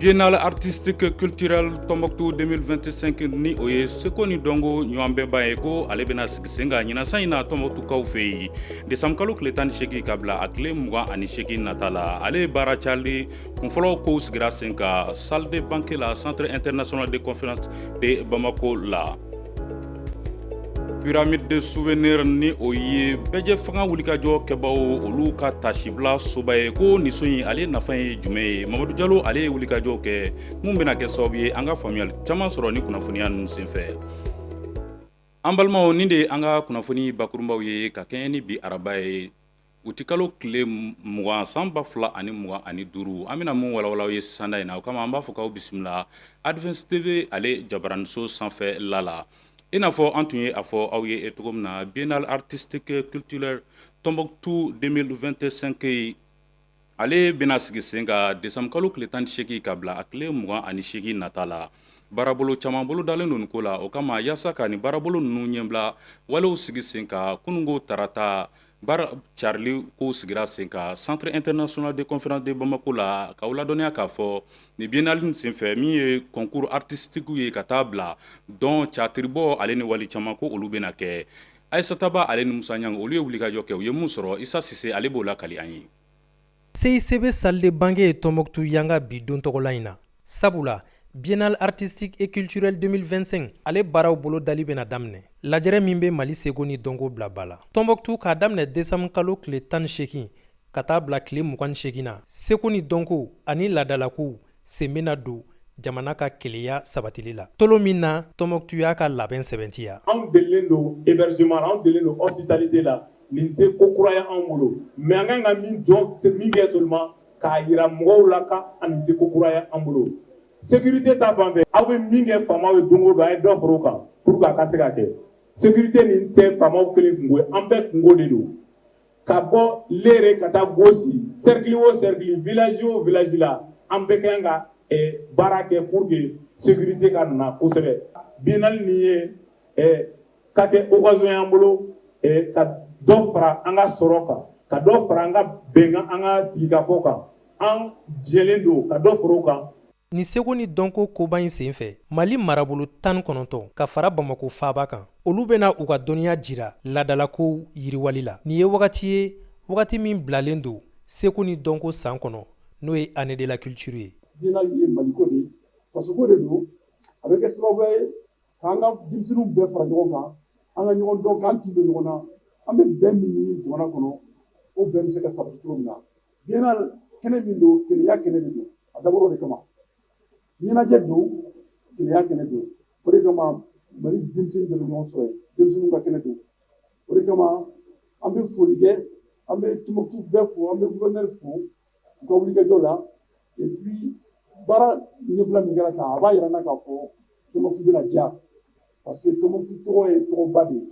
biennale artistique culturelle Tombouctou 2025 ni o ye seko ni dɔnko ɲɔgɔn bɛnba ye ko ale bɛna sigi sen kan ɲinan san in na Tombouctoukaw fɛ yen décembre kalo tile tan ni seegin ka bila a tile mugan ani seegin nata la ale ye baara carili kunfɔlɔ kow sigira sen kan salle de banquet la centre international de conférence de Bamako la pyramide de souvenir ni o ye bɛɛjɛ fanga wulikajɔ kɛbagaw olu ka tasibila soba ye ko nin so in ale nafa ye jumɛn ye mamadu jalo ale ye wulikajɔ kɛ min bɛna kɛ sababu ye an ka faamuyali caman sɔrɔ ni kunnafoniya ninnu senfɛ an balimaw nin de ye an ka kunnafoni bakurunbaw ye ka kɛɲɛ ni bi araba ye Utikalo tile mugan san ba fila ani mugan ani duuru an bɛna mun walawala aw ye sanda in na o kama an b'a fɔ k'aw bisimila Advance TV ale jabaraninso sanfɛla la i n'a fɔ an tun ye a fɔ aw ye e cogo min na biennale artistique culturelle Tombouctou 2025 yen Ale bɛna sigi sen kan décembre kalo tile tan ni seegin ka bila a tile mugan ani seegin nata la baarabolo caman bolo dalen don nin ko la o kama yaasa ka nin baarabolo ninnu ɲɛbila walew sigi sen kan kununko tarata baara carili kow sigira sen kan centre international de conférence de Bamako la k'aw ladɔnniya k'a fɔ nin biennale in senfɛ min ye concours artistique ye ka taa bila dɔn tiyatiribɔ ale ni wale caman ko olu bɛna kɛ Aissata Ba ale ni Musa Ɲang olu ye wulikajɔ kɛ, u ye mun sɔrɔ? Issa Sise ale b'o lakali an ye. CICB salle de banquet ye Tɔnbɔkutu yanga bi don tɔgɔla in na. Sabula, Biennale artistique et culturelle 2025 ale baaraw bolo dali bɛna daminɛ. Lajɛrɛ min bɛ Mali seko ni dɔnko bila ba la. Tɔnbɔkutu, k'a daminɛ desanburu kalo tile tan ni seegin ka taa bila tile mugan ni seegin na, seko ni dɔnko ani laadalakow sen bɛna don jamana ka kelenya sabatili la tolon min na Tɔnbɔkutu y'a ka labɛn sɛbɛntiya anw delilen don hébergement la anw delilen don hospitalité la nin tɛ ko kura ye anw bolo mais an kan ka min dɔn min kɛ seulement k'a jira mɔgɔw la ko nin tɛ ko kura ye an bolo sécurité ta fan fɛ aw bɛ min kɛ faamaw ye don o don a ye dɔ fara o kan pour que a ka se ka kɛ sécurité nin tɛ faamaw kelen kungo ye an bɛɛ kungo de don ka bɔ Lere ka taa Gosi cercle o cercle village o village la an bɛɛ kan ka baara kɛ pour que sécurité ka na kosɛbɛ biennale nin ye ka kɛ occasion y'an bolo ka dɔ fara an ka sɔrɔ kan ka dɔ fara an ka bɛn kan an ka sigikafɔ kan an jɛlen don ka dɔ fara o kan Nin seko ni dɔnko koba in senfɛ mali marabolo tan ni kɔnɔntɔn ka fara bamako faaba kan olu bɛna u ka dɔnniya jira laadalakow yiriwali la nin ye wagati ye wagati min bilalen don seko ni dɔnko san kɔnɔ n'o ye année de la culture ye biennale ye maliko de ye fasoko de don a bɛ kɛ sababuya ye k'an ka denmisɛnninw bɛɛ fara ɲɔgɔn kan an ka ɲɔgɔn dɔn k'an tin don ɲɔgɔn na an bɛ bɛn min ɲini jamana kɔnɔ o bɛn bɛ se ka sabati cogo min na Biennale kɛnɛ min don kelenya kɛnɛ de don a dabɔra o de kama ɲɛnajɛ don kelenya kɛnɛ don o de kama mali denmisɛnnin bɛɛ bɛ ɲɔgɔn sɔrɔ yen denmisɛnninw ka kɛnɛ don o de kama an bɛ foli kɛ an bɛ Tombouctou bɛɛ fo an bɛ gouverneur fo u ka wulikajɔ la et puis baara ɲɛbila min kɛra tan a b'a yira an na k'a fɔ Tombouctou bɛna diya parce que Tombouctou tɔgɔ ye tɔgɔba de ye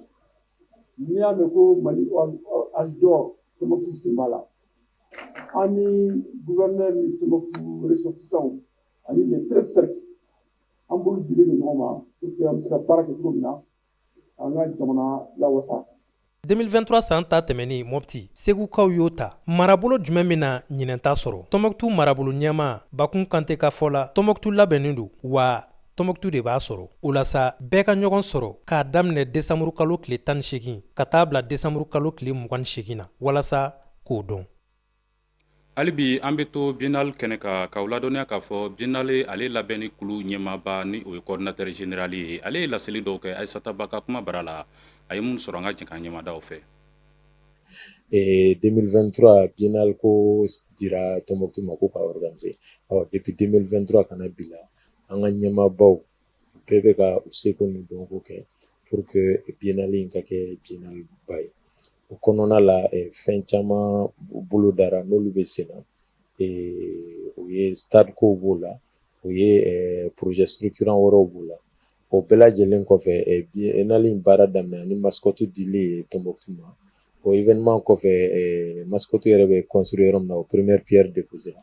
n'i y'a mɛn ko mali âge d'or Tombouctou sen b'a la an ni gouverneur ni Tombouctou ressortissantw ani les treize cercles an bolo dilen don ɲɔgɔn ma pour que an bɛ se ka baara kɛ cogo min na an ka jamana lawasa 2023 san ta tɛmɛni Mopti segukaw y'o ta marabolo jumɛn bɛna ɲinɛn ta sɔrɔ Tombouctou marabolo ɲɛmaa Bakun Kante ka fɔ la Tombouctou labɛnnen don wa Tombouctou de b'a sɔrɔ o la sa bɛɛ ka ɲɔgɔn sɔrɔ k'a daminɛ desanburu kalo tile tan ni segin ka taa bila desanburu kalo tile mugan ni segin na walasa k'o dɔn hali bi an bɛ to biennale kɛnɛ kan k'aw ladɔnniya k'a fɔ biennale ale labɛnni kulu ɲɛmaaba ni o ye coordinateur général ye ale ye laseli dɔw kɛ Aissata Ba ka kuma bara la a ye minnu sɔrɔ an ka jɛn k'an ɲɛmada o fɛ 2023 biennale ko dira Tombouctou ma ko k'a organiser depuis 2023 ka na bi la an ka ɲɛmaabaw bɛɛ bɛ ka u seko ni dɔnko kɛ pour que biennale in ka kɛ biennale ba ye o kɔnɔna la eh, fɛn caman bolodara n'olu bɛ sen na eh, o ye stade kow b'o la o ye eh, projet structurant wɛrɛw b'o la o bɛɛ lajɛlen kɔfɛ biennale in baara daminɛ ni mascotte dili ye Tombouctou ma o événement kɔfɛ mascotte yɛrɛ bɛ construire yɔrɔ min na o première pierre déposée la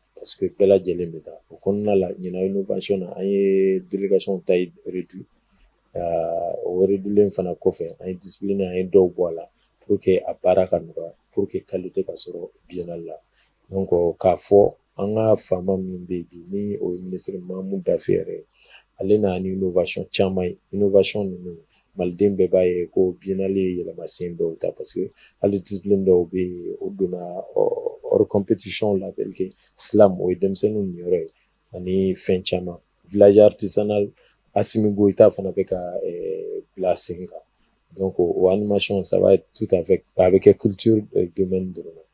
parce que bɛɛ lajɛlen bɛ taa o kɔnɔna la ɲinan innovation na an ye délégation taille réduit o réduilen fana kɔfɛ an ye discipline an ye dɔw bɔ a la pour que a baara ka nɔgɔya pour que qualité ka sɔrɔ biennale la donc k'a fɔ an ka faama min bɛ yen bi ni o ye ministre Mamu Dafe yɛrɛ ye ale nana ni innovation caman ye innovation ninnu maliden bɛɛ b'a ye ko bininali ye yɛlɛmasen dɔw ta parce que hali di dɔw bɛ yen o donna ɔriɔnptisiw la sisan o ye denmisɛnnin ni yɔrɔ ye ani fɛn caman vtisa asimi bɔ i t' fana bɛ ka bila sen kan don ko o animasiyɛn saba tu a bɛ kɛ ki don dɔrɔn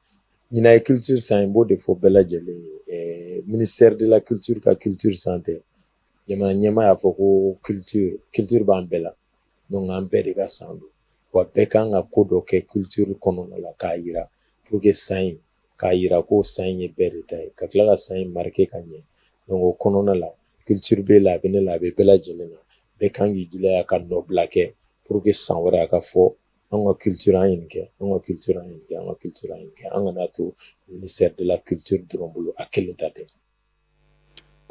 ɲin ye kite san in b'o de fɔ bɛɛ lajɛlen minisɛri dela kite ka kite sante jamana ɲɛmaa y'a fɔ ko culture culture b'an bɛɛ la donc an bɛɛ de ka san don wa bɛɛ kan ka ko dɔ kɛ culture kɔnɔna la k'a yira pour que san in k'a yira ko san in ye bɛɛ de ta ye ka tila ka san in marqué ka ɲɛ donc o kɔnɔna la culture b'e la a bɛ ne la a bɛ bɛɛ lajɛlen na bɛɛ kan k'i jilaja ka nɔbila kɛ pour que san wɛrɛ a ka fɔ an ka culture an ye nin kɛ an ka culture an ye nin kɛ an ka culture an ye nin kɛ an kan'a to ministère de la culture dɔrɔn bolo a kelen ta tɛ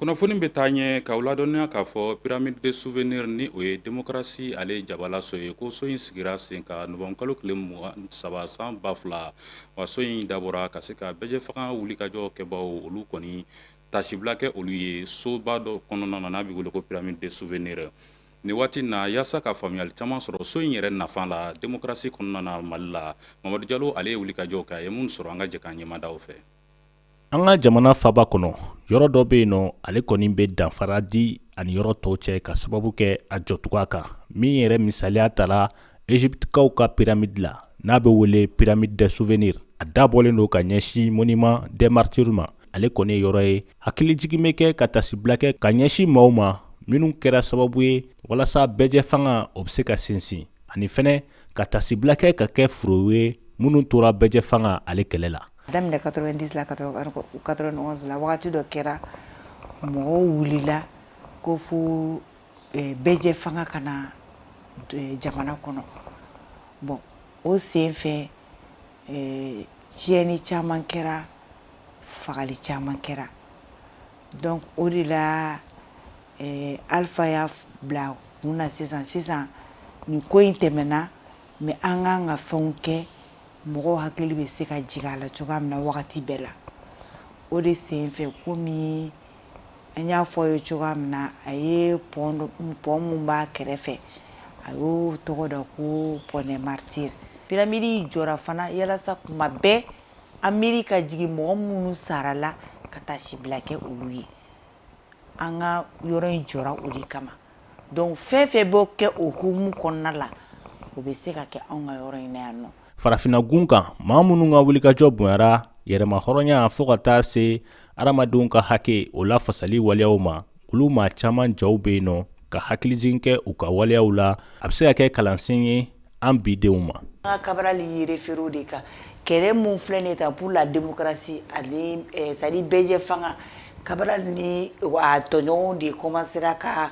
kunnafoni bɛ taa ɲɛ k'aw ladɔnniya k'a fɔ pyramide de souvenir ni o ye demokrasi ale jabalaso ye ko so in sigira sen kan nowanburu kalo tile mugan ni saba san ba fila wa so in dabɔra ka se ka bɛɛjɛ fanga wulikajɔ kɛbaw olu kɔni tasibila kɛ olu ye soba dɔ kɔnɔna na n'a bɛ wele ko pyramide de souvenir nin waati na yaasa ka faamuyali caman sɔrɔ so in yɛrɛ nafa la demokrasi kɔnɔna na Mali la Mamadu Jalo ale ye wulikajɔw kɛ a ye minnu sɔrɔ an ka jɛ k'an ɲɛmada u fɛ an ka jamana faaba kɔnɔ yɔrɔ dɔ bɛ yen nɔ ale kɔni bɛ danfara di ani yɔrɔ tɔw cɛ ka sababu kɛ a jɔcogoya kan min yɛrɛ misaliya tala Ezipitikaw ka piramidi la n'a bɛ wele pyramide de souvenir a dabɔlen don ka ɲɛsin monument des martyrs ma ale kɔni yɔrɔ ye hakilijigi bɛ kɛ ka tasibila kɛ ka ɲɛsin maaw ma minnu kɛra sababu ye walasa bɛɛjɛ fanga o bɛ se ka sinsin ani fɛnɛ ka tasibila kɛ ka kɛ furew ye minnu tora bɛɛjɛ fanga ale kɛlɛ la A daminɛ quatre-vingt-dix la quatre-vingt-onze la wagati dɔ kɛra mɔgɔw wulila ko fo bɛɛjɛ fanga ka na jamana kɔnɔ bɔn o sen fɛ tiɲɛni caman kɛra fagali caman kɛra dɔnku o de la Alifa y'a bila kun na sisan sisan nin ko in tɛmɛna mɛ an kan ka fɛnw kɛ mɔgɔw hakili bɛ se ka jigin a la cogoya min na wagati bɛɛ la o de sen fɛ komi an y'a fɔ ye cogoya min na a ye pɔn min b'a kɛrɛfɛ a y'o tɔgɔ da ko pont des martyrs piramidi jɔra fana yalasa kuma bɛɛ an miiri ka jigin mɔgɔ minnu sara la ka tasibila kɛ olu ye an ka yɔrɔ in jɔra o de kama dɔnku fɛn fɛn bɛ kɛ o hukumu kɔnɔna la o bɛ se ka kɛ anw ka yɔrɔ in yan nɔ farafinnagun kan maa minnu ka wulikajɔ bonyara yɛrɛmahɔrɔnya fo ka taa se adamadenw ka hakɛw lafasali waleyaw ma olu maa caman jaw bɛ yen nɔ ka hakilijigin kɛ u ka waleyaw la a bɛ se ka kɛ kalansen ye an bi denw ma an ka kabarali y'i référer de kan kɛlɛ mun filɛ nin ta pour la démocratie ani eh, c'est-à-dire bɛɛjɛ fanga kabarali ni a tɔɲɔgɔnw de kɔmansera ka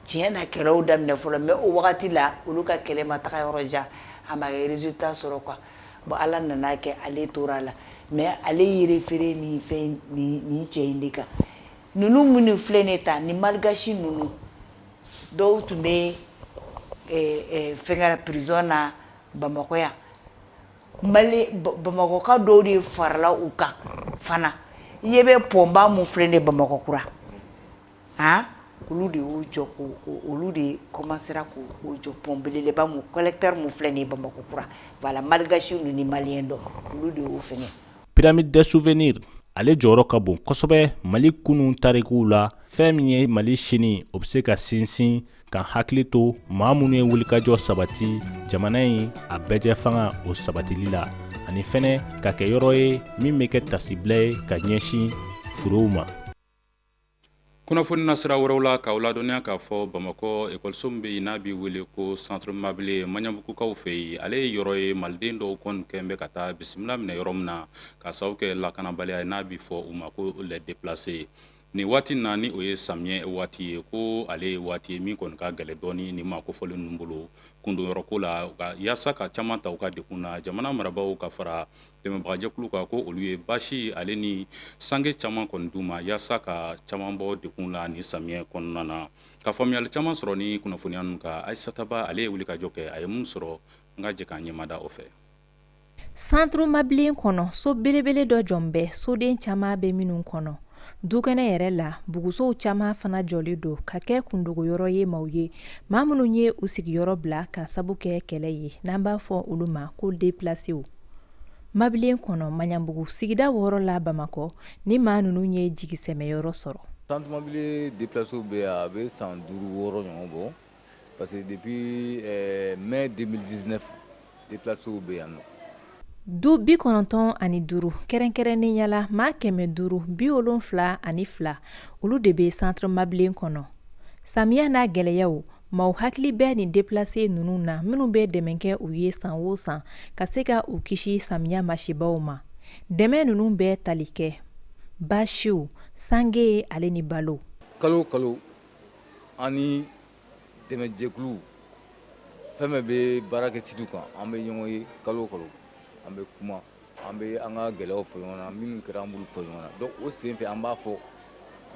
tiɲɛ na kɛlɛw daminɛ fɔlɔ mɛ o wagati la olu ka kɛlɛ ma taga yɔrɔ jan a ma resultat sɔrɔ quoi bon ala nana kɛ ale tora a la mɛ ale y'i référer ni fɛn ni cɛ in de kan ninnu minnu filɛ nin ta ni malgasi ninnu dɔw tun bɛ fɛnkɛ prison na bamakɔ yan bamakɔka dɔw de farala u kan fana i ɲɛ bɛ pɔnba min filɛ nin bamakɔkura a olu de y'o jɔ olu de kɔmansera k'o jɔ pɔn beleba min collecteur min filɛ nin bamakɔkura voilà malgasi ninnu ni maliyɛn dɔw olu de y'o fɛnkɛ pyramide de souvenir ale jɔyɔrɔ ka bon kosɛbɛ mali kunun tarikuw la fɛn min ye mali sini o bɛ se ka sinsin ka hakili to maa minnu ye wulikajɔ sabati jamana in a bɛɛjɛ fanga o sabatili la ani fɛnɛ ka kɛ yɔrɔ ye min bɛ kɛ tasibila ye ka ɲɛsin furew ma kunnafoni nasira wɛrɛw la k'aw ladɔnniya k'a fɔ bamakɔ ekɔliso min bɛ yen n'a bɛ wele ko centre mabilen maɲanbugukaw fɛ yen ale ye yɔrɔ ye maliden dɔw kɔni kɛlen bɛ ka taa bisimila minɛ yɔrɔ min na k'a sababu kɛ lakanabaliya n'a bɛ fɔ u ma ko les déplacés nin waati na ni o ye samiyɛ waati ye ko ale ye waati ye min kɔni ka gɛlɛn dɔɔnin nin maa kofɔlen ninnu bolo kundonyɔrɔ ko la yaasa ka caman ta u ka degun na jamana marabagaw ka fara dɛmɛbagajɛkuluw kan ko olu ye baasi ale ni sange caman kɔni d'u ma yaasa ka caman bɔ degun na nin samiyɛ kɔnɔna na ka faamuyali caman sɔrɔ ni kunnafoniya ninnu kan ayisata ba ale ye wulikajɔ kɛ a ye min sɔrɔ an ka jɛ k'an ɲɛmada o fɛ centre mabilen kɔnɔ so belebele dɔ jɔlen bɛ soden caman bɛ minnu kɔnɔ dukɛnɛ yɛrɛ la bugusow caman fana jɔlen don ka kɛ kundogoyɔrɔ ye maaw ye maa minnu ye u sigiyɔrɔ bila ka sabu kɛ kɛlɛ ye n'an b'a fɔ olu ma ko deplasew Mablen kɔnɔ maɲanbugu sigida wɔɔrɔ la bamakɔ ni maa ninnu ye jigisɛmɛyɔrɔ sɔrɔ centre mablen déplacés bɛ a bɛ san duuru wɔɔrɔ ɲɔgɔn bɔ parce que depuis mai deux mille dix-neuf déplacés bɛ yan du bi kɔnɔntɔn ani duuru kɛrɛnkɛrɛnnenya la maa kɛmɛ duuru bi wolonwula ani fila olu de bɛ centre mabilen kɔnɔ samiya n'a gɛlɛyaw Maaw hakili bɛ nin déplacés ninnu na minnu bɛ dɛmɛ kɛ u ye san o san ka se ka u kisi samiya masibaw ma dɛmɛ ninnu bɛ tali kɛ basiw sange ale ni balo kalo kalo ani dɛmɛjɛkulu fɛn o fɛn bɛ baara kɛ sitiw kan an bɛ ɲɔgɔn ye kalo kalo an bɛ kuma An bɛ an ka gɛlɛyaw fɔ ɲɔgɔn na minnu kɛra an b'olu fɔ ɲɔgɔn na donc o sen fɛ an b'a fɔ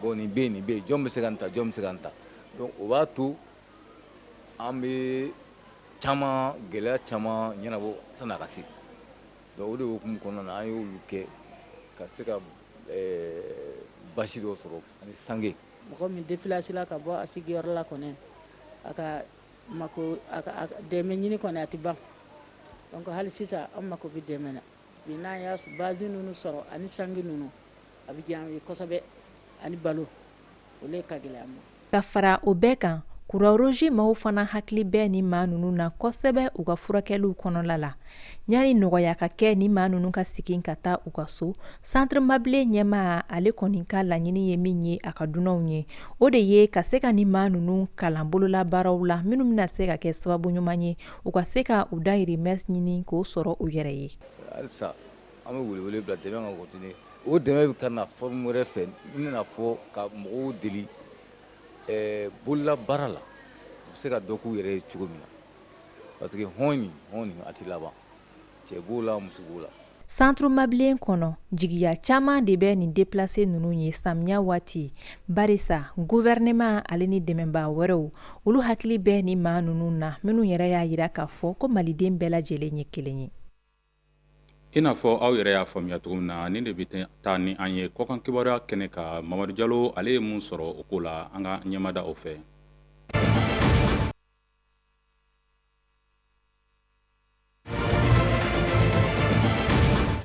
bon nin bɛ yen nin bɛ yen jɔn bɛ se ka nin ta jɔn bɛ se ka nin ta donc o b'a to an bɛ caman gɛlɛya caman ɲɛnabɔ sani a ka se donc o de hukumu kɔnɔna na an y'olu kɛ ka se ka basi dɔ sɔrɔ ani sange mɔgɔ min déplacer la ka bɔ a sigiyɔrɔ la kɔni a ka Mako dɛmɛ ɲini kɔni a tɛ ban donc hali sisan an mako bɛ dɛmɛ na bi n'an y'a basi ninnu sɔrɔ ani sange ninnu a bɛ diya an ye kosɛbɛ ani balo o de ka gɛlɛn an ma ka fara o bɛɛ kan Croix-Rouge maaw fana hakili bɛ ni maa ninnu na kosɛbɛ u ka furakɛliw kɔnɔna la Ɲani nɔgɔya ka kɛ ni maa ninnu ka segin ka taa u ka so centre Mabilen ɲɛmaa ale kɔni ka laɲini ye min ye a ka dunanw ye o de ye ka se ka ni maa ninnu kalan bolola baaraw la minnu bɛna se ka kɛ sababu ɲuman ye u ka se ka u dayirimɛ ɲini k'o sɔrɔ u yɛrɛ ye halisa an bɛ welewele bila dɛmɛ ka continuer o dɛmɛ bɛ ka na forme wɛrɛ fɛ n bɛna fɔ ka mɔgɔw deli bolola baara la u bɛ se ka dɔ k'u yɛrɛ ye cogo min na Parce que hɔn in, hɔn in a tɛ laban, cɛ b'o la muso b'o la. Centre Mabilen kɔnɔ, jigiya caman de bɛ nin déplacés ninnu ye samiya waati, barisa gouvernement ale ni dɛmɛbaa wɛrɛw, olu hakili bɛ nin maa ninnu na, minnu yɛrɛ y'a jira k'a fɔ ko Maliden bɛɛ lajɛlen ye kelen ye. I n'a fɔ aw yɛrɛ y'a faamuya cogo min na, nin de bɛ taa ni an ye kɔkan kibaruya kɛnɛ kan, Mamadu Jalo ale ye mun sɔrɔ o ko la, an ka ɲɛmada o fɛ.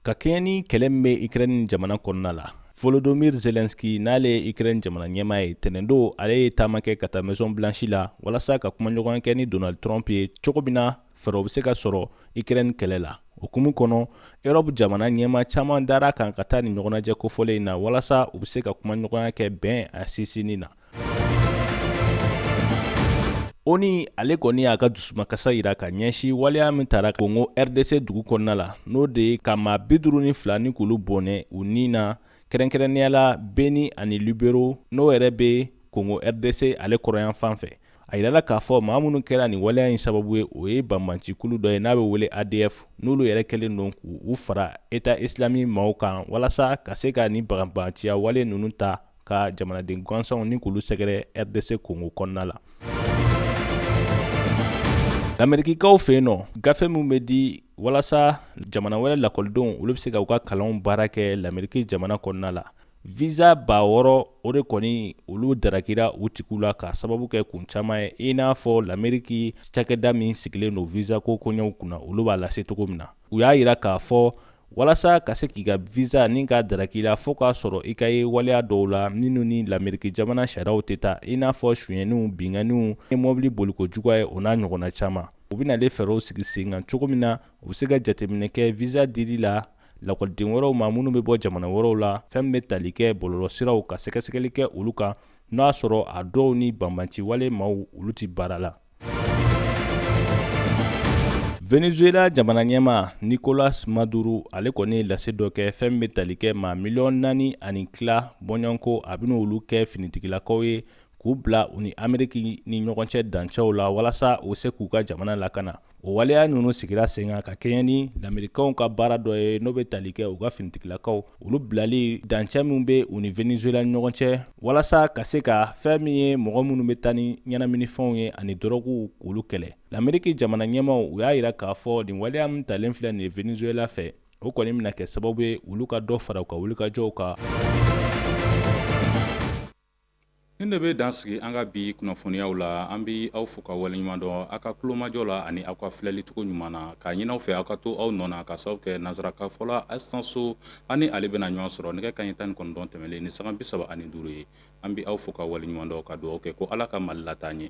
ka kɛɲɛ ni kɛlɛ min bɛ ukraine jamana kɔnɔna la volodymyr zelensky n'ale ye ukraine jamana ɲɛmaa ye tɛnɛndon ale ye taama kɛ ka taa maison blanche la walasa ka kumaɲɔgɔnya kɛ ni donald trump ye cogo min na fɛɛrɛw bɛ se ka sɔrɔ ukraine kɛlɛ la o hukumu kɔnɔ europe jamana ɲɛmaa caman dara a kan ka taa ni ɲɔgɔnnajɛ kofɔlen in na walasa u bɛ se ka kumaɲɔgɔnya kɛ bɛn a sinsinni na onu ale kɔni y'a ka dusumakasa yira ka ɲɛsin waleya min tara kongo rdc dugu kɔnɔna la n'o de ye ka maa bi duuru ni fila ni k'olu bɔnɛ u ni na kɛrɛnkɛrɛnnenya la beni ani lubero n'o yɛrɛ bɛ kongo rdc ale kɔrɔnyanfan fɛ a yirala k'a fɔ maa minnu kɛra nin waleya in sababu ye o ye banbancikulu dɔ ye n'a bɛ wele adf n'olu yɛrɛ kɛlen don k'u fara état islamique maaw kan walasa ka se ka ni banbanciya wale ninnu ta ka jamanaden gansanw ni k'olu sɛgɛrɛ rdc kongo kɔnɔna la amerikikaw fɛ yen nɔ gafe min bɛ di walasa jamana wɛrɛ lakɔlidenw olu bɛ se ka u ka kalanw baara kɛ lameriki jamana kɔnɔna la visa ba wɔɔrɔ o de kɔni olu darakira u tigiw la ka sababu kɛ kun caman ye i n'a fɔ lameriki cakɛda min sigilen don visa ko koɲɛw kunna olu b'a lase cogo min na u y'a yira k'a fɔ walasa ka se k'i ka visa ni ka daraki la fo k'a sɔrɔ i ka ye waleya dɔw la minnu ni lameriki jamana sariyaw tɛ taa i n'a fɔ sonyɛniw binkanniw ni mɔbili boliko juguya ye o n'a ɲɔgɔnna caman u bɛna ale fɛɛrɛw sigi sen kan cogo min na u bɛ se ka jateminɛ kɛ visa dili la lakɔliden wɛrɛw ma minnu bɛ bɔ jamana wɛrɛw la fɛn bɛ tali kɛ bɔlɔlɔsiraw ka sɛgɛsɛgɛli kɛ olu kan n'a sɔrɔ a dɔw ni banbaanciwale maaw olu tɛ baara la Venezuela jamana ɲɛmaa Nicolas Maduro ale kɔni ye lase dɔ kɛ fɛn bɛ tali kɛ maa miliyɔn naani ani tila bɔɲɔgɔnko a bɛna olu kɛ finitigilakaw ye k'u bila u ni Ameriki ni ɲɔgɔn cɛ dancɛw la walasa u se k'u ka jamana lakana o waleya ninnu sigira sen kan ka kɛɲɛ ni lamerikɛnw ka baara dɔ ye n'o bɛ tali kɛ u ka finitigilakaw olu bilali dancɛ min bɛ u ni venezuela ni ɲɔgɔn cɛ walasa ka se ka fɛn min ye mɔgɔ minnu bɛ taa ni ɲɛnaminifɛnw ye ani dɔrɔguw k'olu kɛlɛ lameriki jamana ɲɛmaaw u y'a yira k'a fɔ nin waleya min talen filɛ nin ye venezuela fɛ o kɔni bɛna kɛ sababu ye olu ka dɔ fara u ka wulikajɔw kan Nin de bɛ dan sigi an ka bi kunnafoniyaw la an bɛ aw fo k'aw waleɲuman dɔn aw ka kulomajɔ la ani aw ka filɛlicogo ɲuman na k'a ɲini aw fɛ aw ka to aw nɔ na k'a sababu kɛ nansarakan fɔla Asan So aw ni ale bɛna ɲɔgɔn sɔrɔ nɛgɛ kanɲɛ tan ni kɔnɔntɔn tɛmɛnlen ni sanga bi saba ani duuru ye an bɛ aw fo k'aw waleɲuman dɔn ka dugawu kɛ ko ala ka mali lataa ɲɛ